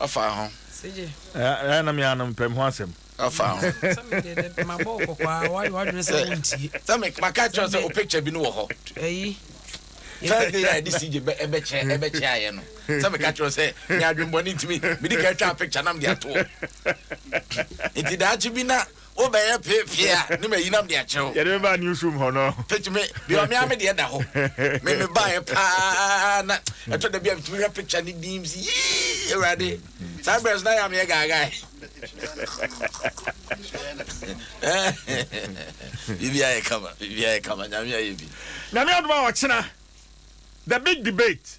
Ɔfa ho. Ɛyɛ na me ara no mepɛ me ho asɛm. Ɔfa ho. Sɛ me deɛ dɛ mabɔ wo kɔkɔ a woayɛ w'adwene sɛ wontie. Sɛ me maka akyerɛ wo sɛ wo picture bi no wɔ hɔ. Ɛyi. First day a yɛde CJ bɛ ɛbɛkyɛ ɛbɛkyɛ ayɛ no sɛ meka kyerɛ wo sɛ me adwembɔne nti me medi kan twaa picture na mede ato hɔ nti daakye bi na wo bɛ yɛ pee pee a ne ma yi nam de akyerɛ wo. Yɛde me ba news room hɔ no. Picture me bi ɔme ame deɛ da hɔ me me ba yɛ paa na ɛtɔ da bi a me tumi hwɛ picture ne din si yii ewurade saa bɛrɛ so na yɛ ame yɛ gaagaa yi. Bibi ayɛ kama bibi ayɛ kama nyame ayɛ bi. Nyame adoma ɔkyena the big debate.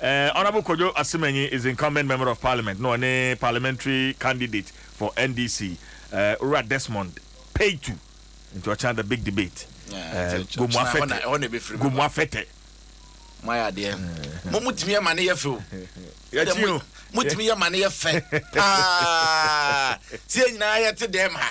Honourable Kojo Asemanyi is incumbent member of parliament na ɔne parliamentary candidate for NDC Owura Desmond Peitu nti ɔkyena the big debate Gomuafɛtɛ Gomuafɛtɛ. Mo ayɛ adeɛ. Mo mo tumi yɛ ma ne yɛ fɛ o. Yɛkyi o. Mo tumi yɛ ma ne yɛ fɛ paa. Sɛ nyinaa yɛ te dɛm ha.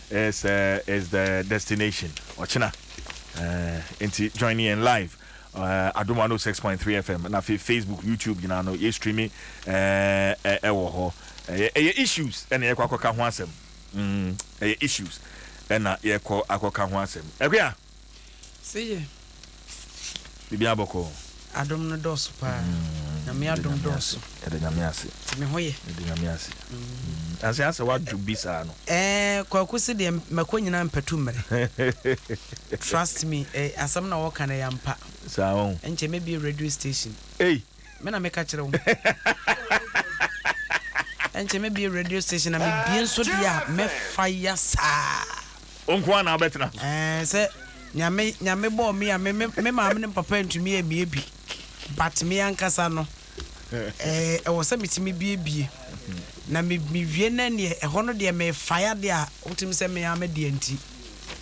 It's uh, it's the destination. Ochina. Uh, nti join in live. Uh, Adum 106.3 FM na fe Facebook, YouTube nyinaa no ye streaming eh eh ɛwɔ hɔ. Ɛyɛ ɛyɛ issues ɛna yɛkɔ akɔka ho asɛm. Mm, ɛyɛ issues ɛna yɛkɔ akɔka ho asɛm. Ɛkwa. Sɛ yɛ. Biribiara bɔkɔɔ. Adom no dɔɔso paa. Nyame adom dɔɔso. Yɛda Nyame ase. Nti me ho yɛ. Yɛda Nyame ase. Nanso yɛ asɛ wadwo bi saa no. Ɛɛ Kwaku se deɛ mɛkɔ nyinaa mpatu mmrɛ. Trust me, asɛm na wɔka no ɛyɛ ampa. Saa ɔn. Ɛnkyɛ mɛbie radio station. Ei. Me na meka kyerɛ wo. Ɛnkyɛ mɛbie radio station na mebie nso deɛ a mɛfa ya saa. Wo nko ara na wobɛtena so. Ɛɛ sɛ nyame nyame bɔɔ me a me me maame ne papa ntumi amie bi but me ankasa no ɛɛ ɛwɔ sɛ metumi biebie na me mewie na neɛ ɛhɔ no deɛ mefa ya deɛ a wotumi sɛ me ara me deɛ nti.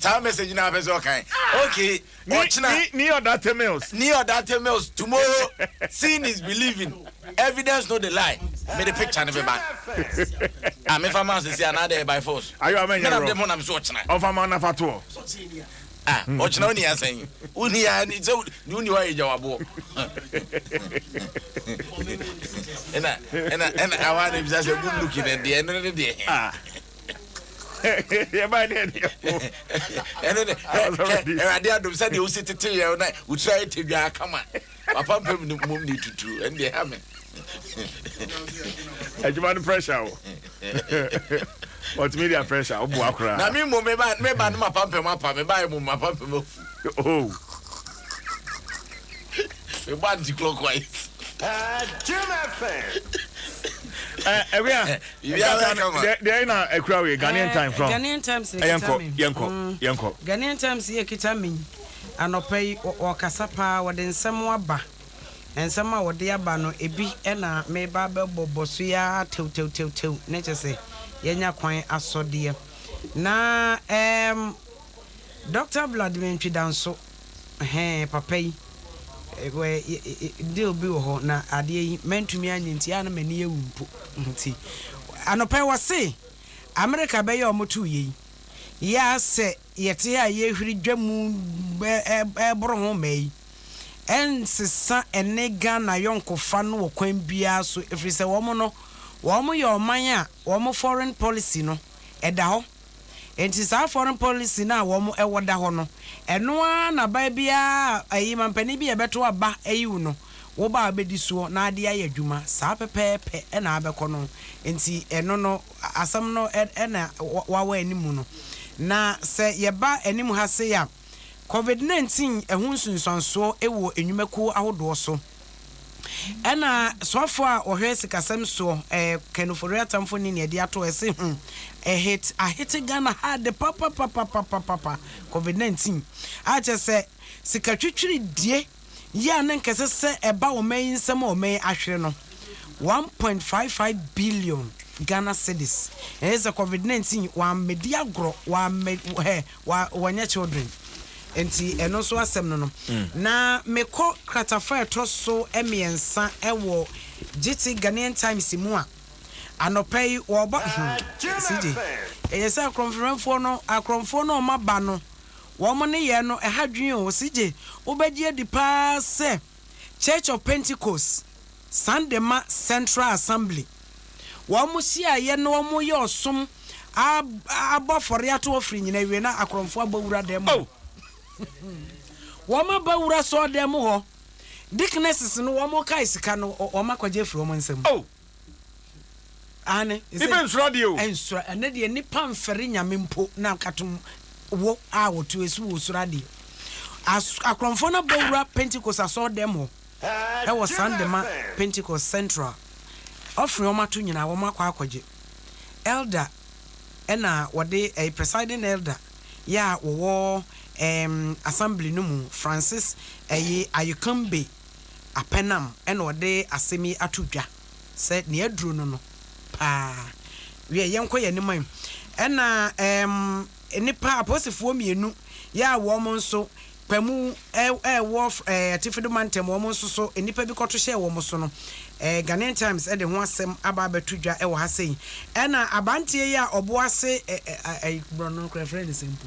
Time message na apɛ sɛ ɔkan. Okay. Ɔkyena. Ni ɔdate mills. Ni ɔdate mills tomorrow. Seeing is believing. Evidence no the lie. Me de picture ne beba. Ah me fa ma sisi anade by force. Ayo ama nyɛ wrong. Me na de mo na me so ɔkyena. Ɔfa ma na fa to. Ah ɔkyena oni asan. Oni ya ni so ni oni wa eja wabo. Ena ena ena awa ne bisa se good looking and the eno ne de. Ah. yɛbae ne ɛne ɛho ɛno ne awurade adom sɛ deɛ wosi tete yɛ na wotira yɛ tadwaa kama papa mpɛ mu mmom ne tutu ɛne deɛ ha me adwuma no pressure wo multimedia pressure woboa koraa na me mmom meba no mapampam apa mebaɛ mu mapampam afu oh. Mebɔ anti-clockwise. Paa Jim FM. Eh, Ewia. Ewia bɛ kama. De de na ekura we Ghanaian eh, time from. Ghanaian times ne eh, kita me. Yenko, mm. yenko. Ghanaian times ye kita me. Anɔpa yi wɔkasa paa wɔde nsɛm aba. Nsɛm a wɔde aba no ebi na meba bɛbɔ bɔ so ya tew tew tew tew ne kyɛ sɛ yɛnya kwan asɔdeɛ. Na um, Dr. Vladimir Ntwidanso Ɛhɛɛ papa yi wɛ deal bi wɔ hɔ na adeɛ yi mantumi anyɛ nti a na m'ani awu mpo nti anɔpa yi wɔse Amerika bɛyɛ wɔn to yei yɛ a sɛ yɛte ha a yɛhwiri dwa mu ɛboro ho mmaa yi ɛnsesa ɛne Ghana yɔnkofa no wɔ kwan biara so ɛfiri sɛ wɔn no wɔn yɛ ɔman a wɔn foreign policy no ɛda hɔ. Enti saa foreign policy no a wɔn wɔ da hɔ no, ɛno ara na baa biara a ɛyi mampanin bi a ɛbɛto aba ayi wo no, wo ba a ɔbɛdi soɔ na ade ayɛ adwuma, saa pɛpɛɛpɛ na abɛkɔ no. Enti ɛno no, asɛm no na wawa anim no. Na sɛ yɛba anim ha sei a. Covid nineteen ho nsunsuansoɔ wɔ nnwumakuo ahodoɔ so. Ɛna soafoɔ a ɔhwɛ sikasɛm soɔ eh, Ken Ofori Atamfo ne nea de ato ɛse hmm, a hit ahete Ghana ha de papapapapapapa Covid nineteen a kyɛ sɛ sika twitwiridie yi a na anka ɛsɛ sɛ ɛba ɔman yi nsam a ɔman yi ahwere no, one point five five billion Ghana cedis. Ɛyɛ sɛ covid nineteen wammɛdi agorɔ, wammɛ hɛ, wa wɔnyɛ children. Nti ɛno nso asɛm no no. Na mekɔ kratafa a ɛtɔ so mmiɛnsa wɔ Gyiti Ghanaian Times mu a, anɔpa yi wɔrebɔ hmm, CJ, ɛyɛ sɛ akorɔmfrɛmfoɔ no, akorɔmfoɔ no a wɔaba no, wɔn nneyɛe no, ɛha dwen o, ɔse gye wobɛgye adi paa sɛ Church of Pentecost, Sandema Central Assembly, wɔn hyiaeɛ na wɔn yɛ ɔsom a abɔ afɔre ato hɔ firi nyina awie na akorɔmfoɔ abɔ wura dan mu hɔ. Wɔn aba wura sɔɔ dan mu hɔ, deaconesses no wɔn kae sika no wɔn akɔgye afiri wɔn nsam. Aane. Ibe nsora deɛ o. Nsora, ɛnɛ deɛ nnipa mfɛre Nyame mpo na nkatom wo a wɔto asu wɔ soro adeɛ. As, akorɔmfoɔ no abɛwura Pentecost asɔɔdɛm hɔ ɛwɔ Sandema Pentecost Central. Offering wɔn ato nyinaa wɔn akɔ akɔgye. Elder ɛna wɔde, ɛyɛ presiding elder yɛ a wɔwɔ ɛɛm assembly no mu, Francis ɛyi Ayokambe. Apɛnam na ɔde asɛm yi ato dwa sɛ nea aduro no no paa. Wiɛ, yɛnkɔ yɛn anim ɛ. Ɛna ɛɛm nnipa apolisifoɔ mmienu yɛ a wɔn nso Kpamu ɛwɔ ɛɛ Atifido Mantam wɔn nso so nnipa bi kɔto hyɛɛ wɔn so no. Ɛɛ Ghanaian Times ɛde ho asɛm aba abɛto dwa ɛwɔ ha sɛyi. Ɛna abanteɛ yi a ɔbo ase ɛ ɛ ɛ borɔ no korɛ frɛ ne sɛn po?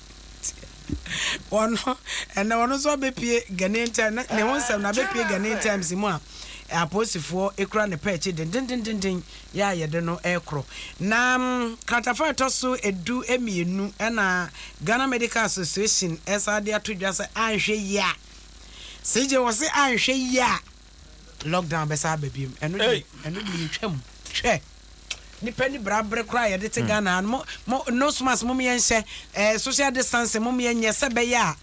Ɔno, ɛnnɛ ɔno nso ɔbɛpue Ghanaian Times, na ne ho nsɛm no abɛpue Ghanaian Times mu a apolisifoɔ kura ne pɛ akyi dendendenden yɛ a yɛde no rekoro. Na kratafa a ɛtɔ so edu mmienu na Ghana Medical Association san de ato dwa sɛ anhwɛ yie a, CJ wɔse anhwɛ yie a, Lockdown bɛsan aba biom ɛno deɛ ɛno deɛ yɛtwa mu hwɛ nipa ni bra bere koraa a yɛde te hmm. Ghana ha no mo nose mask mo yɛ nhyɛ ɛɛ eh, social distancing mo yɛ nyɛ sɛ bɛyɛ a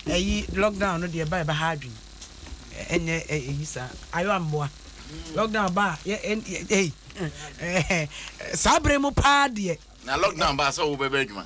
ɛyi eh, lockdown no deɛ ba ɛbɛ ha adwene ɛnyɛ eh, ɛyi saa ayɔ amboa lockdown ba yɛ ɛyi saa bere mu paa deɛ. na lockdown ba sɛ wo bɛbɛ adwuma.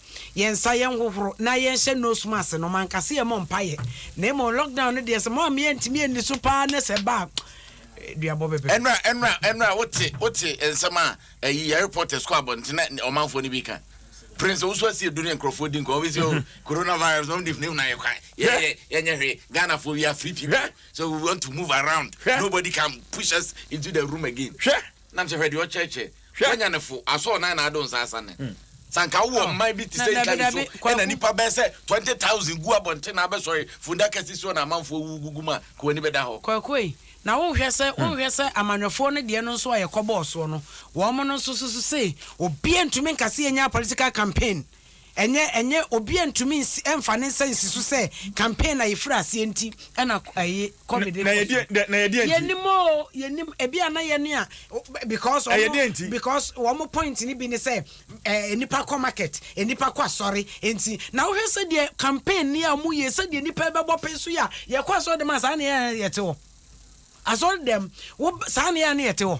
yɛn nsa yɛn hohoro na yɛn hyɛ nose mask no man kase yɛ mɔ mpa yɛ na emo lockdown no deɛ sɛ mo ameyɛ ntumi ani so paa ne sɛ ba eh, duabɔ bɛbɛ. ɛnura ɛnura ɛnura wote wote nsɛm a ɛyi yɛ reporters kɔ abɔntene ne ɔmanfoɔ no bi ka prince owusu asi edu ne nkurɔfoɔ di nkɔn obi sɛ o oh, coronavirus wɔn de funu na yɛ kwan yɛ yɛ yɛ nyɛ hwee ghana foɔ we are free people so we want to move around nobody can push us into the room again. Nam sɛ hwɛ deɛ ɔkyerɛkyerɛ. Hwɛ. Wanya ne fo, asɔɔ nan na ado nsa asa ne. Sɛ anka wowɔ Oh, mman bi te na sɛ dabi, Italy so dabi, Kwaku. na nnipa bɛyɛ sɛ 20,000 gu abɔnten na abɛsɔre fundaka sisi hɔ na amanfoɔ awuwu gugu mu a, ka w'ani bɛda hɔ? Kwaku ei, na wohwɛ sɛ, wohwɛ sɛ amanyɔfoɔ no deɛ no nso a yɛkɔbɔɔ soɔ no, wɔn no nso so so sei, obiara ntumi nka sɛ yɛnyaa political campaign. Ɛnyɛ, ɛnyɛ, obiara ntumi nsi, ɛmfa ne nsa nsi so sɛ campaign a yɛfiri aseɛ nti ɛna ɛyi Covid kɔ so. Na ɛyɛ deɛ nti? Yɛnim oo, yɛnim, ebi a na yɛne a, because wɔn. Ɛyɛ deɛ nti? Because wɔn point no bi ne sɛ, ɛɛ, nnipa kɔ market, nnipa kɔ asɔre, nti, na wohwɛ sɛdeɛ campaign no a wɔyɛ, sɛdeɛ nnipa rebɛbɔ pee so yɛ a, yɛkɔ asɔre dɛm a saa na yɛn a na yɛte hɔ. Asɔre dɛm, wo, saa na yɛn a na yɛte hɔ.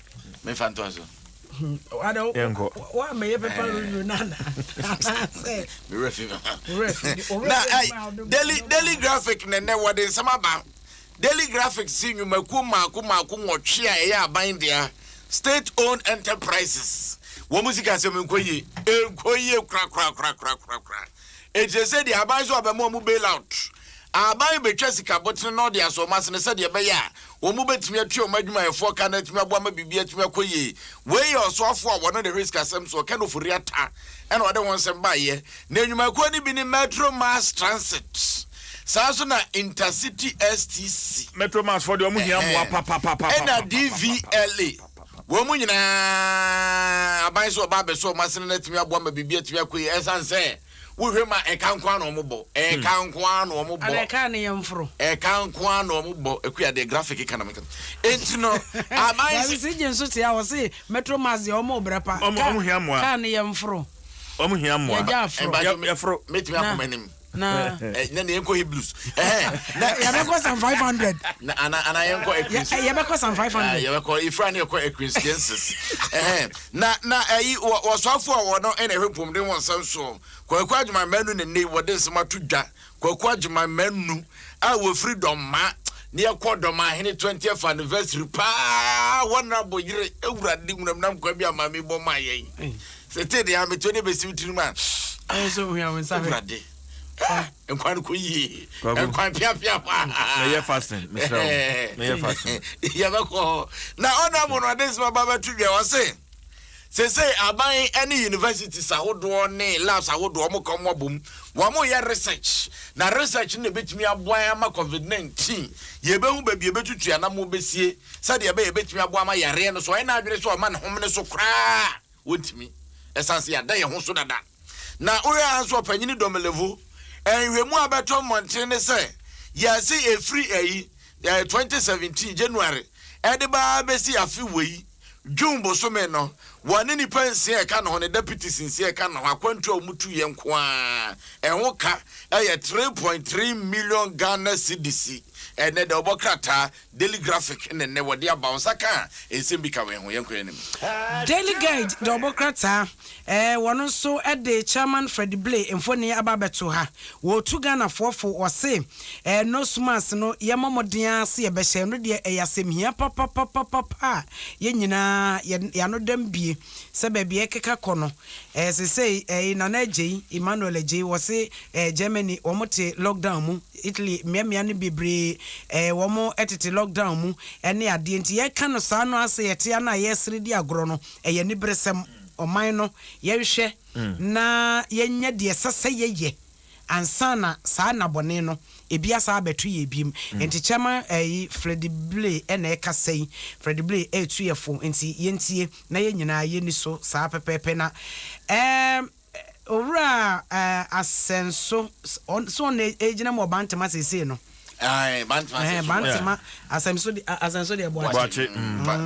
mefa ntoa so woamɛyɛ pɛpa review no ana anaasɛ mewerɛ fi na daily daily graphic ne nnɛ wɔde nsɛm aba daily graphic si nnwumakuo mmaako mmaako nwɔtwe a ɛyɛ aban dea state owned enterprises wɔn mu sika asɛm nkɔ yie nkɔ yie korakorakorakorakorakora Ɛkyerɛ sɛ deɛ aban so abɛma wɔn bail out. Aban bɛtwa sika botene na ɔde asɔ wɔn asene sɛdeɛ ɛbɛyɛ a wɔn bɛtumi atua wɔn adwumayɛfoɔ ka na atumi aboa ma biribi atumi akɔ yie. Wei yɛ ɔsoafoɔ a wɔne no hwɛ sikasɛm soɔ, Ken Ofori-Atta, na ɔde ho nsɛm baeɛ. Na nnwumakuo no bi ne Metro Mass Transit, saa nso na Intercity STC. Metro Mass foɔ deɛ wɔn hia mmoa papapapapapapapa. Ɛna DVLA. Wɔn mu nyinaa, aban sɛ ɔba abɛsɔ wɔn asene no atumi aboa ma biribi atumi akɔ yie. Ɛsiane sɛ wohwɛ mu a, ɛka nko ara na wɔbɔ. Ɛka nko ara na wɔbɔ. Anaa ɛka ne yɛn foro. Ɛka nko ara na wɔbɔ. Akua deɛ graphic ka na meka. Enti no, aban sɛ. Dabi, CJ nso te a, ɔse Metro Mass deɛ wɔn rebrɛ pa. Ka ne yɛn foro. Wɔn hia mmoa. Yɛgya aforo. Yɛforo. Mɛtumi akɔ m'anim. na eh, na yɛn kɔ hebrews ɛhɛn eh, na yɛbɛkɔ san five hundred na ana ana yɛn kɔ ekins eh, yɛbɛkɔ san five hundred yɛbɛkɔ ifra ne yɛkɔ ekristiansis ɛhɛn na na ɛyi wɔ wɔsɔfo a wɔn ɛna ɛhwɛ pɔmuden wɔn nsa nsoɔ kɔkɔ adwuma mɛnu ne ne wɔde nsɛm ato dwa kɔkɔ adwuma mɛnu a wɔfiri dɔmma ne yɛkɔ dɔmma ahene twentieth anniversary paa wɔn na bɔ yere ewura de wunam nam kwan bi a maame bɔ maa yɛn. Tete deɛ ametuo ne bɛsi wo tirim a. Ayɛ sɛ ohia wo nsa hwɛ. Awurade. Nkwan kɔ yie. Nkwan piapia hɔ a. Mɛyɛ fasting mesrɛ wo. Mɛyɛ fasting. Yɛbɛkɔ hɔ. Na ɔnabɔ no ɔde nsɛm aba bɛto dwa ɔse sese aban ne universities ahodoɔ ne labs ahodoɔ wɔn kɔn mu abom wɔn yɛ research na research no na ebetumi aboa ama covid nineteen yɛbɛhu baabi ebetutu anam obesie sɛdeɛ ɛbɛyɛ ebetumi aboa ama yareɛ no so ɔyɛ n'adwene sɛ ɔma ne homene so koraa. Wontumi. Ɛsane sɛ yɛada yɛn ho so dada. Na wohwɛ ara nso Ɔpanyin Domelevo, nhwehwɛmu a abɛto mmɔnten ne sɛ, yɛase ɛfiri ayi, 2017 January de ba ara bɛsi afe wei June bosome no, wɔne nnipa nsia a ɛka ne ho no, deputies nsia a ɛka ne ho, akwantuo a wɔtuiɛ nko ara, ɛho ka yɛ three point three million Ghana cedis. Ɛnnɛ da, wɔbɔ krataa Daily Graphic na nnɛ wɔde aba wo nsa ka a, nsɛm bi ka wei ho. Yɛnkɔ yɛn anim. Daily Guide de wɔn krataa eh, wɔn nso de Chairman Freddie Blay mfoni aba abɛto ha. Wɔretu Ghanafoɔ fo, wɔse eh, nose mask no yɛmmɔ mmɔden ara sɛ yɛbɛhyɛ, ɛno deɛ ɛyɛ asɛmhia papapapapa a yɛn nyinaa yɛn ano da mu bie. sɛ baabi a ɛkeka kɔ no, eh, sesei, eh, Nana Agyei, Emmanuel Agyei, wɔse, eh, Germany, wɔn te lockdown mu, Italy, mmeammea no bebree, eh, wɔn tete lockdown mu, ɛne adeɛ. Nti yɛka no saa no ase, yɛte ano a yɛsere di agorɔ no, ɛyɛ aniberesɛm. Ɔman no, yɛnhwɛ na yɛnyɛ deɛ ɛsɛ sɛ yɛyɛ. ansa na saa nna bɔne no ebi asan abɛto yɛn biom. Nkyekyɛma yi Fredy Blay na ɛka sa yi. Fredy Blay retu yɛ fo nti yɛntie na yɛn nyinaa yɛnni so saa pɛpɛɛpɛ na ɛɛm Owura Asɛnso so ɔno na ɛregyina mu wɔ Bantama seesei no? Ae, Bantama Asɛnso Boakye. Bantama Asɛmso de Asɛnso deɛ Boakye. Boakye,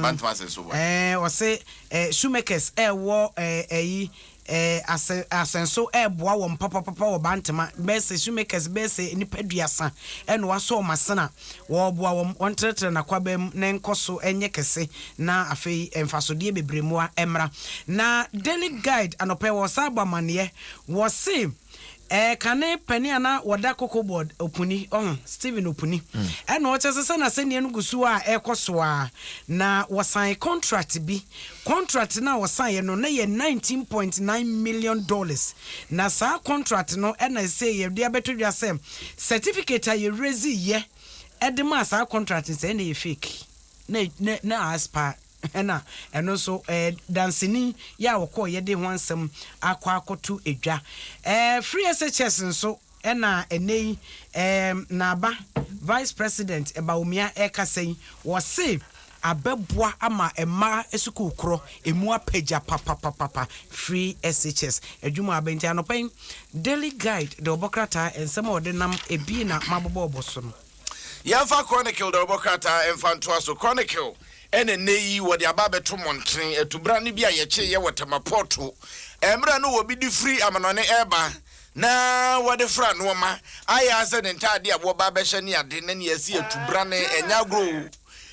Bantama Asɛnso Boakye. Ɛɛ ɔse ɛɛ Shoemakers ɛwɔ ɛɛ ɛyi Ɛɛ, asɛ, asɛnso reboa wɔn papapapa wɔ Bantama. Bɛyɛ sɛ shoemakers bɛyɛ sɛ nnipa aduasa na wɔasɔ wɔn asena. Wɔreboa wɔn, wɔntrɛtrɛ n'akwaaba mu na ɛnkɔ so nyɛ kɛse, na afei mfasodeɛ bebree mmoa mmra. Na Daily Guide anɔpa yi wɔresan abɔ amanneɛ, wɔse. Ɛɛ kane panin a na wɔda koko board Opuni, ɔho, Stephen Opuni, ɛna ɔkyɛ sɛ sɛ n'asɛnniɛ no gu so a ɛrekɔ so a, na wɔsan contract bi. Contract no a wɔsaneɛ no, na ɛyɛ nineteen point nine million dollars. Na saa contract no ɛna ɛsɛ yɛde abɛto dwa sɛ certificate a yɛrelease yɛ de maa saa contract no sɛ ɛna ɛyɛ fake, na na na a expire. Ɛna ɛno nso ɛɛ danseni yɛ a wɔkɔɔ yɛ de ho ansɛm akɔ akɔto edwa. Ɛɛ Free SHS nso ɛna ɛnɛ yi ɛɛ n'aba Vice President Bawumia ɛɛkasa yi wɔse abɛboa ama mmaa sukuu korɔ ɛmu apagya papapapapa Free SHS adwuma aba nti anɔpa yi Daily Guide de ɔbɔ krataa ɛnsɛm a ɔde nam ɛbi na mabobɔɔbɔ so no. Yɛmfa Chronicle dawurubɔ krataa mfa ntoa so. Chronicle na nnɛyi wɔde aba abɛto mmɔnten, atubra no bi a yɛkyeeɛ wɔ Tema Pɔɔto mmerɛ no wɔbi de firi amanɔne reba na wɔde fra nnoɔma, ayɛ ara sɛ ne ntaadeɛ a wɔba abɛhyɛ ne ade na nea asi atubra no, ɛnyɛ agorɔ o,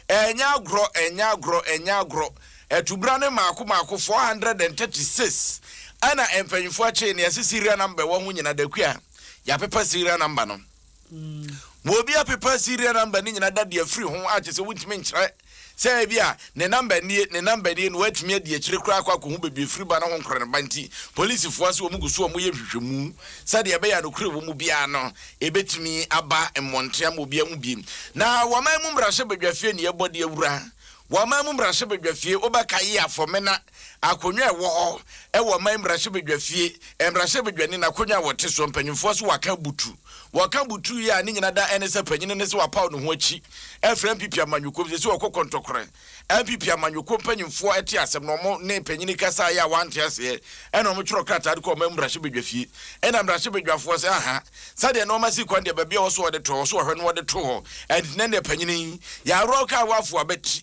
ɛnyɛ agorɔ, ɛnyɛ agorɔ, ɛnyɛ agorɔ, atubra no mmaako mmaako 436 ɛna mpanyinfoɔ akyee, nea ɛsɛ serial number ɛwɔ ho nyina, Dakua, yɛapepa serial number no. Obi apepa serial number ne nyinaa da de afiri ho a kyerɛ sɛ wontumi nkyerɛ sɛ ebi a ne number nie ne number nie na watumi adi akyire koraa akɔ akɔhu baabi afiri ba no ho nkora no ba nti polisifoɔ ase wɔn gu so a wɔyɛ nhwehwɛmu sɛdeɛ ɛbɛyɛ a nokorɛ wɔ mu biara no ɛbɛtumi aba mmɔnten ama obi ahu biem. Na wɔaman mu mmarahyɛbadwafie ne yɛbɔ de awura wɔaman mu mmarahyɛbadwafie wobɛkae Afɔmena Akonnwa a ɛwɔ hɔ wɔ ɔman mmarahyɛbadwafie, mmarahyɛbadwani, n'akonnwa a wɔte soɔ, mpanimfoɔ so wɔaka abutu. Wɔka abutu yi a ne nyina da ɛne sɛ panyini no sɛ wapaw ne ho akyi afiri NPP amanyɔkuo mu. Seesei ɔkɔ kɔntɔkorɛ. NPP amanyɔkuo mpanimfoɔ te asɛm no, wɔn ne panyini kasaeɛ a wɔante aseɛ ɛna wɔn twerɛ krataa de kɔɔ ɔman mmarahyɛbadwafie. Ɛna mmarahyɛbadwafoɔ sɛ aha, sɛdeɛ nnoɔma si kwan deɛ baabi a ɔwɔ so wɔde to hɔ, so wɔhwɛ no wɔde to hɔ. Ɛntinɛ deɛ panyini, yɛaworɔ wo kaa woafo abati,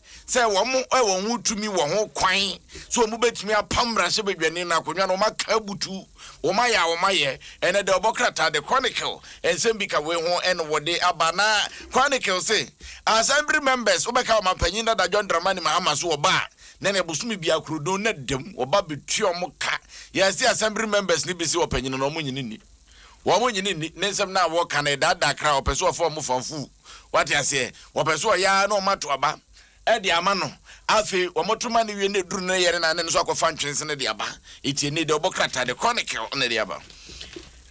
sɛ wɔn a wɔn ho tumi wɔ ho kwan sɛ wɔn bɛtumi apam mmarahyɛbadwani no akonnwa no, wɔn aka abutu, wɔn ayɛ a wɔn ayɛ. Ɛnɛ The Ɔbɔ krataa, The Chronicle, nsɛm bi ka wei ho na wɔde aba. Na Chronicle se, Assembly members wobɛka Ɔmanpanyin dada John Dramani Mahama so wɔ ba a, na ne bosome biara kuro dun na dam wɔba bɛtua wɔn ka. Yɛn se Assembly members no bi se ɔpanyin no wɔn nyini nni. Wɔn nnye no nni. Ne nsɛm no a wɔka no, ɛdaadaa kra. Wɔpɛ sɛ wɔfa wɔn fa mfuw. Woate aseɛ? Wɔpɛ sɛ wɔyɛ ara na wɔato aba de ama no. Afei wɔto ma no wie na ɛduru ne yere no a, na ɛno nso akɔfa ntwense no de aba. Tie, ne deɛ ɔbɔ krataa, The Chronicle, na ɛde aba.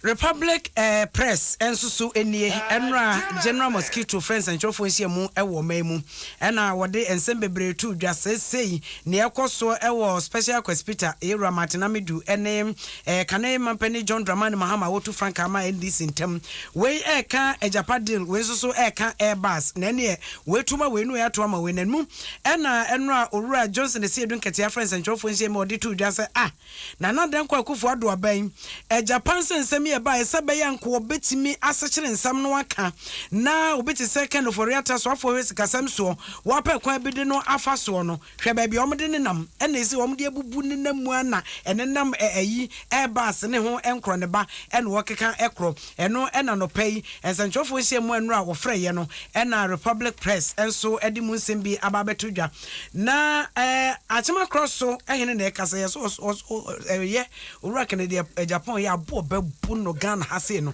Republic Press nso so nie. Ɛnnora, General Mosquito frɛɛ nsɛnkyerɛwfoɔ nhyiamu wɔ ɔman mu, ɛnna wɔde nsɛm bebree too dwa. Seesei, nea ɛrekɔ so wɔ Special Request Peter, Yewura Martin Amedu ne. Ɛɛ Kane Mampanin John Dramani Mahama a wotu frankaa maa NDC ntam. Wei ɛɛka Agyapa deal, wei nso so ɛɛka Air Bus. Na ɛneɛ wei to ma wei ne wei ato ama wei. Na ɛnmu ɛna ɛno a Owura Johnson Asiedu Nketiah frɛ nsɛntwerɛfoɔ nhyiam a ɔde too dwa sɛ ah Nana Dankwa Akufo Addo aban Agyapa nsɛ nsɛm yi ɛbaeɛ sɛ ɛbɛyɛ a nka wɔbɛtumi asekyere nsɛm no aka na obi te sɛ Ken Ofori-Atta soafoɔ hwɛ sikasɛm soɔ wɔapɛ kwan bi de no afa soɔ no. Hwɛ baabi a wɔde nenam, ɛna ese wɔde abubu nenam mu ara na ɛnenam ɛ ayi ɛreba ase ne ho nkorɔ ne ba ɛna wɔkeka ɛkorɔ. Ɛno ɛna anɔpa yi nsɛnkyerɛwfoɔ nhyiamu a nnora a wɔfrɛ yɛ no ɛna Republic Press nso ɛde mu nsɛm bi aba abɛto dwa. Na ɛ Akyema Krɔ so hene na ɛkasa yɛ so ɔs ɔs ɔs ɛ yɛ Owura Kennedy ɛ Japan yɛ aboɔ bɛbu no Ghana ha sei no.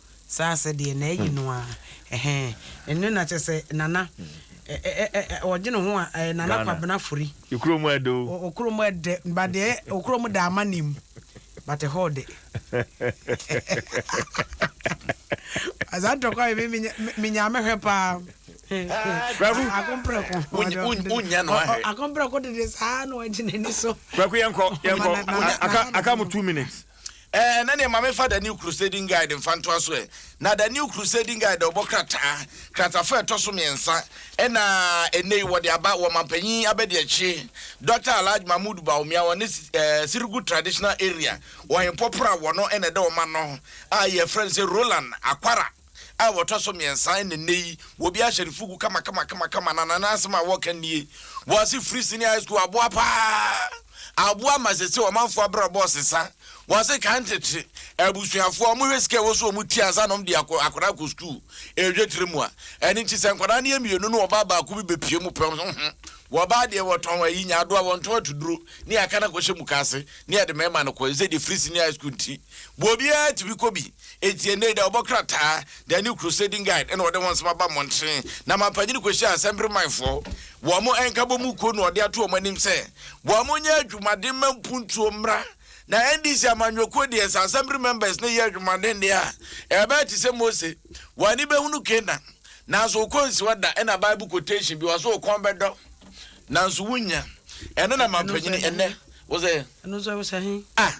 Saa sɛ deɛ na ayi no aa ɛhɛɛ ɛno na kyɛ sɛ nana ɛɛɛɛ ɔgye ne ho a ɛɛ nana kwabena fori. Ekurom ɛdɛ o. Okurom ɛdɛ but deɛ okurom da ama nim but ɛhɔ ɔdɛ saa ntɔkwa yi mi mi nya me hwɛ paa akomprɛko wonya no ahɛ akomprɛko dede saa na ɔgye n'ani so. Kwaku yɛn kɔ yɛn kɔ aka aka mu two minutes. Eh, ɛnɛdeɛ ma me fa The New Crusading Guide mfa ntoa so ɛ. Na The New Crusading Guide ɔbɔ krataa, kratafo a ɛtɔso mmiɛnsa, ɛna ɛnɛ yi wɔde aba wɔ Ɔmanpanyin Abadiakyire Dɔkta Alhaji Mahmood Bawumia wɔ ne eh, Sirgu Traditional Area wɔ Hempɔ Pora wɔ no ɛna ɛda wɔn ano a yɛfrɛ no sɛ Roland Akwara. a wɔtɔ so mmiɛnsa ɛna nnɛ yi wɔ obi ahyɛ ne fugu kama kama kama kama na nana asɛm a wɔka nie wɔ ase firi senior high school aboa paa aboa ma sese ɔmanfoɔ abrabɔ ɔsesa wɔ ase kan tete abusuafoɔ wɔn hwɛ sika ɛwɔ so wɔn tua ansa na wɔn de akɔ akwadaa akɔ sukuu ɛhwɛ tiri mu a ɛne nti sɛ nkwadaa no yɛ mmienu no ɔbaa baako bi bɛpie mu pɛm ho ho wɔbaa deɛ wɔtɔn ayi nya adoa wɔntɔn atuduro ne aka no akɔhyɛ mukaase ne ɛde mɛma no kɔ ɛsɛ deɛ firi senior high school nti bobiara tumi kɔ bi Enti ɛnnɛ yi da, wɔbɔ krataa de a new crusading guide na wɔde ho nsɛm aba mmɔnten na amanpanyin kɔhyia nsɛmperemanfoɔ wɔ wɔn ɛnkabɔ mu kuo na wɔde ato wɔn anim sɛ wɔnyɛ adwumaden mma mpuntuo mmra na NDC amanyɔkuo deɛ sɛ assembly members no yɛ adwumaden deɛ a ɛbɛyɛ te sɛ Mose w'ani bɛhunu Canaan nanso wokɔ nsiwa da ɛna Bible quotation bi wɔ so wokɔn bɛdɔ nanso wonya ɛno na amanpanyin ɛnnɛ wɔ sɛ ah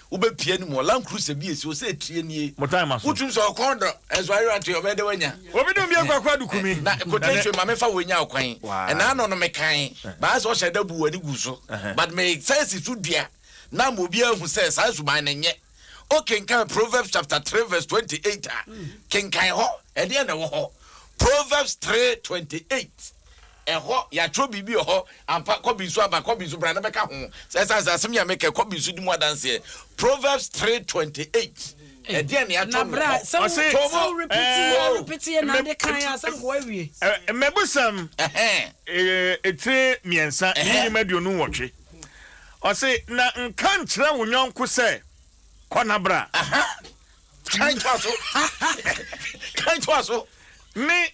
Wobɛpia no mu wɔ Land Cruiser bi a ɛsi hɔ sɛ ɛtire nie. Mo time aso. Wotum sɛ ɔkɔn dɔ nso ayere atoe ɔbɛyɛ dɛ wanya. Obi dom bia kwaku adu kumi. Na quotation ma me fa wei nya ɔkwan. Ɛna ano no me kan. Ba ayɛ sɛ ɔhyɛ da bu w'ani gu so. But me san si so dua na ama obi ahu sɛ saa suban no nyɛ. O kenkan Proverbs chapter three verse twenty eight a, kenkan hɔ. Ɛdeɛn na ɛwɔ hɔ? Proverbs three twenty eight. Ɛhɔ, yɛatwerɛ biribi wɔ hɔ. Ampa, kɔ bi nso aba, kɔ bi nso bra na bɛka ho. Sɛ ɛsiane sɛ asɛm yi a meka yi, kɔ bi nso di mu adanseɛ. Proverbs three twenty eight. Ɛdeɛn na yɛatwerɛ wɔ hɔ? Ɔse, To mu. Ɛɛ, mmɛbusɛm etire mmiɛnsa ne nnwuma aduonu nwɔtwe. Ɔse, Na nka nkyerɛ wo yɔnko sɛ, Kɔ na bra. Kan toa so. Kan toa so. Ne